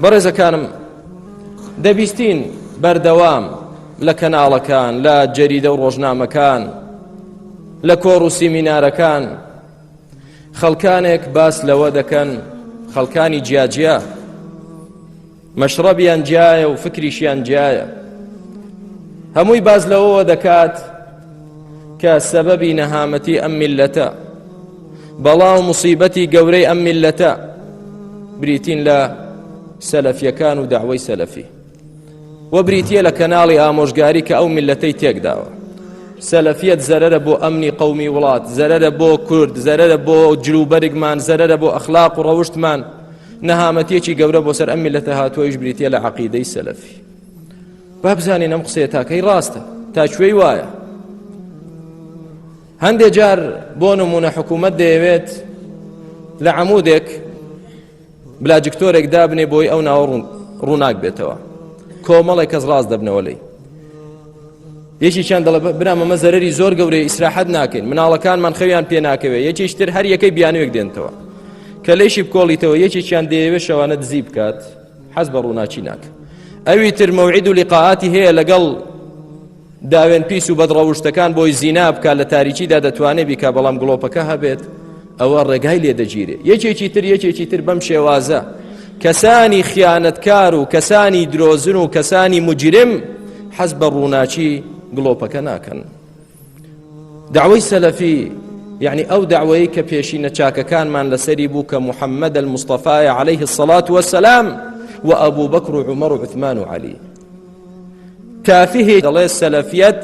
بەڕێزەکانم دەبیستین بەردەوام لە کەناڵەکان لە جەریدە و ڕۆژنامەکان لە کۆڕ و سیمینارەکان خەڵکانێک باس لەوە دەکەن خەڵکانی جیاجیا مەشڕەبیان جیایە و فکریشیان جیایە هەمووی باز لەوەوە دەکات کە سەبەبی نەهامەتی ئەم میلەتە بەڵا و مصیبەتی گەورەی ئەم میلەتە بریتین لە سەلەفیەکان و داوای سەلەفی و بریتە لە کەناڵی ئامۆژگاری کە ئەو میلەتەی تێکداوە سەلەفیەت زەرە بۆ ئەمنی قومی وڵات زەرە بۆ کورد زەرە بۆ جلوبەرگمان زەرە بۆ ئەخلاق و ڕەوشتمان نەهامەتیەکی گەورە بۆ سەر ئەم میلەتە هاتووەیش بریتە لە عقیدەی سەلەفی بابزانین ئەم قسێ تاکەی ڕاستە تاکوێی وایە هەندێ جار بۆ نمونە حکوومەت دەیەوێت لە عمودێک بلاجکتۆرێک دابنێ بۆی ئەو ناوە ڕووناک بێتەوە کۆمەڵێک کەس ڕاست دەبنەوە لی یەکیان دەڵێ برامەمە زەرری زۆر گەورەی ئیسراحەت ناکەین مناڵەکانمان خەویان پێ ناکەوێ یەکیشتر هەر یەکەی بیانوێک دێنتەوە کە لەیشی بکۆڵیتەوە یەکێکیان دەیەوێ شەوانە دزی بکات حەز بە ڕووناچی ناکە ئەوی تر مەوعید و لقاعاتی هەیە لەگەڵ داوێن پیس و بەدڕەوشتەکان بۆی زینا بکە لە تاریکیدا دەتوانێت بیکە بەڵام گڵۆپەکە هەبێت ئەوە ڕێگای لێ دەگیرێت یەکێکی تر یەکێکی تر بەم شێوازە کەسانی خیانەتکار و کەسانی درۆزن و کەسانی مجرم حەز بە ڕووناچی گڵۆپەکە ناکەن داوای سەلەفی یعنی ئەو داوەیە کە پێشینە چاکەکانمان لەسەری بوو کە محەممەد المستەفاایە عليه الصلاات وسلام و ئەبوو بەکر و عمر و عثمان و علی کافیه دەڵێ سەلەفیەت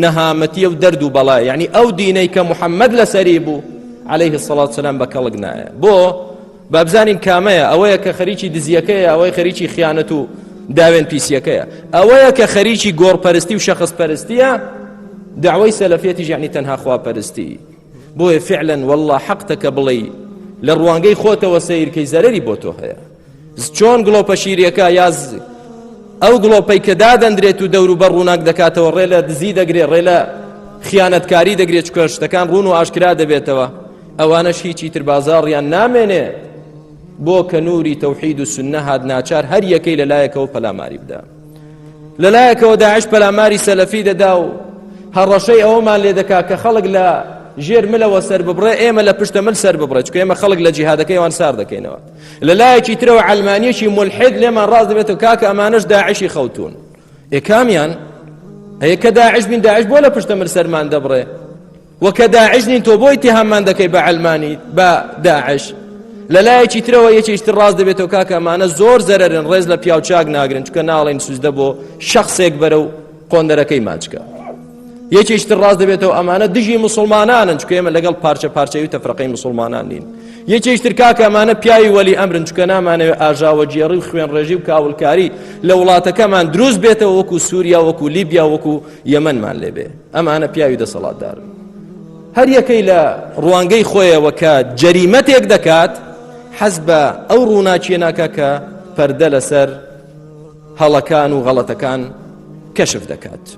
نەهامەتیە و دەرد و بەڵای یعنی ئەو دینەی کە محەممەد لەسەری بوو عليه سەڵات سلام بە کەڵک نایە بۆ بابزانین کامەیە ئەوەیە کە خەریکی دزیەکەیە ئەوەی خەریکی خیانەت و داوێن پیسیەکەیە ئەوەیە کە خەریکی گۆڕپەرستی و شەخص پەرستیە داوای سەلەفێتی ژانی تەنها خواپەرستی بۆیە فعلەن والله حەقتەکە بڵێ لە ڕوانگەی خۆتەوە سیرکەی زەرری بۆ تۆ هەیە چۆن گڵۆپە شیریەکە یاز ئەو گڵۆپەی کە دادەندرێت و دەور و بە ڕووناک دەکاتەوە ڕێ لە دزی دەگرێت ڕێ لە خیانەتکاری دەگرێت چکە شتەکان ڕوون و ئاشکرا دەبێتەوە ئەوانەش هیچی تر بازاڕیان نامێنێ بۆ کە نووری تەوحید و سنە هاات ناچار هەر یەکەی لە لایەکەوە پەلاماری بدا لە لایەکەوە داعش پەلاماری سەلەفی دەدا و هەڕەشەی ئەومان لێ دەکا کە خەڵک لە ژێر ملەوە سەر ببڕێ ئێمە لە پشتە مل سەر ببڕێت کە ئێمە خەڵک لە جیهادەکەیوان سار دەکەینەوە لە لایەکی ترەوە عەلمانیەکی ملحد لێمان ڕاز دەبێت و کاکە ئەمانەش داعشی خەوتون ئێکامیان ئەیە کە داعش بین داعش بۆ لە پشتە من سەرمان دەبڕێ و کە داعش نین تۆ بۆی تێهامان دەکەی بە عەلمانی بە داعش لە لایەکی ترەوە یەکیشتر ڕاست دەبێتەوە کاکەمانە زۆر زەرن ڕێز لە پیاوچاک ناگرن چکە ناڵین سوزدە بۆ شخصێک بەرە و قۆندەرەکەی ماچکە یەکێش تر ڕاست دەبێتەوە ئەمانە دژی مسلمانانن چکە ئێمە لەگەڵ پارچە پارچەوی تەفرەقەی مسلمانان نین یەکێش تر کاکە ئەمانە پیاوی وەلی ئەمرن چکە نامانەوێت ئاژاوە جێڕی و خوێن ڕێژی و کاولکاری لە وڵاتەکەمان دروست بێتەوە وەکو سووریا وەکو لیبیا وەکو یەمەمان لێبێ ئەمانە پیاوی دەسەڵاتدار هەر یەکەی لە ڕوانگەی خۆیەوە کە جەریمەتێک دەکات حەز بە ئەو ڕووناچیە ناکە کە پەردە لەسەر هەڵەکان و غەڵەتەکان کەشف دەکات.